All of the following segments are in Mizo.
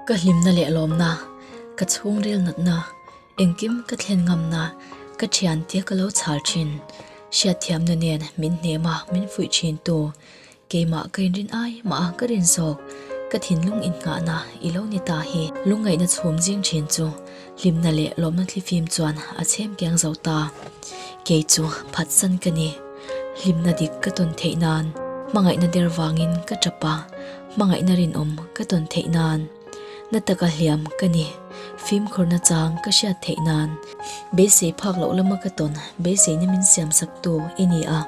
ka hlimna leh lawmna ka chhungrel natna engkim ka thlen ngamna ka thiantia ka lo chhal thin hriat thiamna nen min hnema min fuih thin tu Keimah ka inrin ai mah a ka rin zawk ka thinlung innghahna i lo ni ta hi. Lungngaihna chhum zing thin chu hlimna leh lawmna thlifim chuan a chhem kiang zo ta. Kei chu phatsan ka ni. Hlimna dik ka tawn theih nan. Hmangaihna der vangin ka tap a. Hmangaihna rinawm ka tawn theih nan. Na taka hliam ka ni. Fimkhurna chang ka hriat theih nan. Beisei phak loh lama ka tawn. Beiseina min siam sak tu i ni a.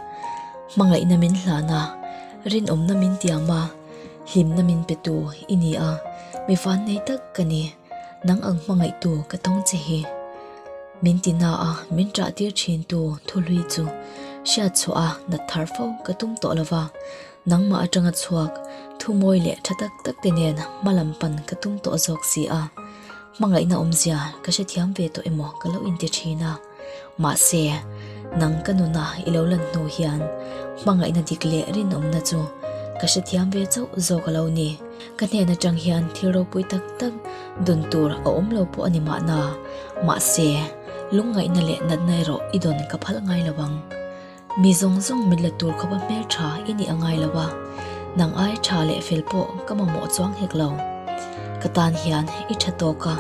Hmangaihna min hlan a. Rinawmna min tiam a. Hlimna min pe tu i ni a. Mifan nei tak ka ni. Nang ang hmangaih tu ka tawng che hi. Min ti na a. Min ṭah tir ṭhin tu thuhlui chu. Hriat chhuah a. Nat thar fo ka tum tawh lo va. Nangmah atanga chhuak, thumawi leh tha tak tak te nen hma lam pan ka tum tawh zawk si a, hmangaihna awmzia ka hrethiam ve tawh emaw ka lo inti thin a. Mahse, nang ka nuna i lo lan hnu hian hmangaihna dik leh rinawmna chu ka hrethiam ve chauh zawk a lo ni. Ka hnen atang hian thil ropui tak tak dun tur a awm lo pawh a ni mahna, mahse, lungngaihna leh natna erawh i dawn ka phalh ngai lo ang. Mi zawng zawng mit la tur khawpa hmel tha i nih a ngai lo a, nang ai tha leh fel pawh ka mamawh chuang hek lo. Ka tan hian i tha tawk a,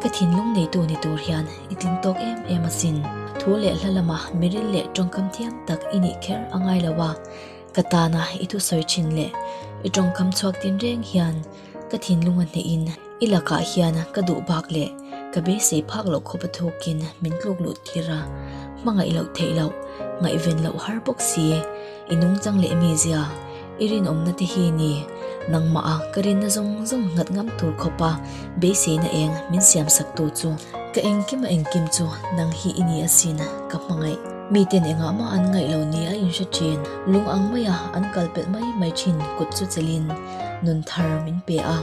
ka thinlung neitu ni tur hian i tling tawk em em asin. Thu leh hla lama mi ril leh tawngkam thiam tak i nih kher a ngai lo a, ka tana i thusawi thin leh i tawngkam chhuak din reng hian, Ka thinlung a hneih in i lakah hian ka duh bak leh ka be sei phak loh khawpa thawk in min tluk luh tir a, hmangaih loh theih loh, ngaihven loh har bawk si i nungchang leh mi zia i rinawmna te hi ni, nangmah a ka rinna zawng zawng nghat ngam tur khawpa beiseina eng min siamsak tur chu. Ka engkim a engkim chu nang hi i ni a sin ka hmangaih. Mi ten engah mah an ngaih lo nia in hre thin, lung ang maia an kalpelh mai mai thin kut chu chelh in. nun thar min pe a,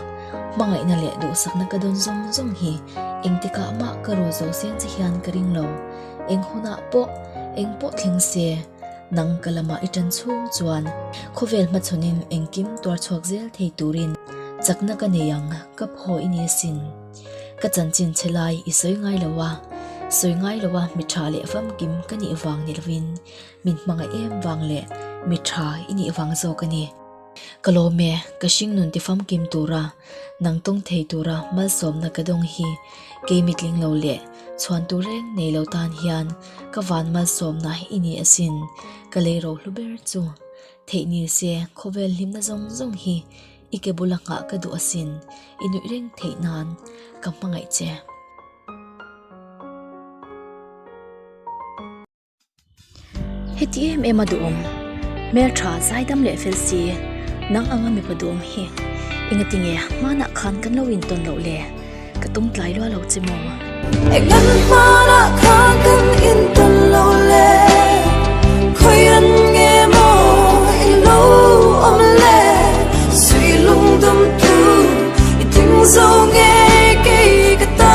hmangaihna leh duhsakna ka dawn zawng zawng hi, engtikah mah ka ru zo seng che hian ka ring lo, eng hunah pawh, eng pawh thleng se nang ka lamah i tan chhung chuan, khawvel hma chhawnin engkim tuar chhuak zel thei turin chakna ka nei ang, ka phaw i ni asin, ka chanchin che lai i sawi ngai lo a, sawi ngai lo a mi tha leh famkim ka nih vang ni lovin, min hmangaih em vang leh mi tha i nih vang zawk a ni. Ka lawm e, ka hringnun tifamkim tura, nang tawng thei tura malsawmna ka dawng hi kei mitling lo leh chhuan tur reng nei lo tan hian ka van malsawmna i ni asin. Ka lei ro hlu ber chu. Theih ni se, khawvel hlimna zawng zawng hi i ke bula nghah ka duh asin, i nuih reng theih nan ka hmangaih che. Heti em em a duhawm hmel tha zai dam leh fel si nang anga mipa duhawm hi eng ati nge hmanah khan kan lo intawn loh le ka tum tlai luah lo che maw eng kan hmanah khan kan intawn loh le khawi ran nge maw i lo awm le sui lung dum tu i tling zo nge kei ka ta.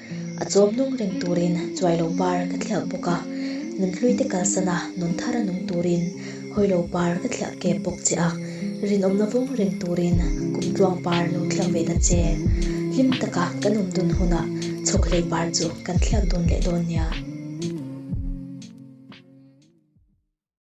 A chawm hnung reng turin chuai lo par ka thliah bawk a, nun hlui te kalsana nun thar a nung turin hawi lo par ka thliah kep bawk che a, rinawmna vawng reng turin kum tluang par lo thliah ve ta che. Hlim taka kan awm dun huna chhawk hlei par chu kan thliak dun leh dawn nia.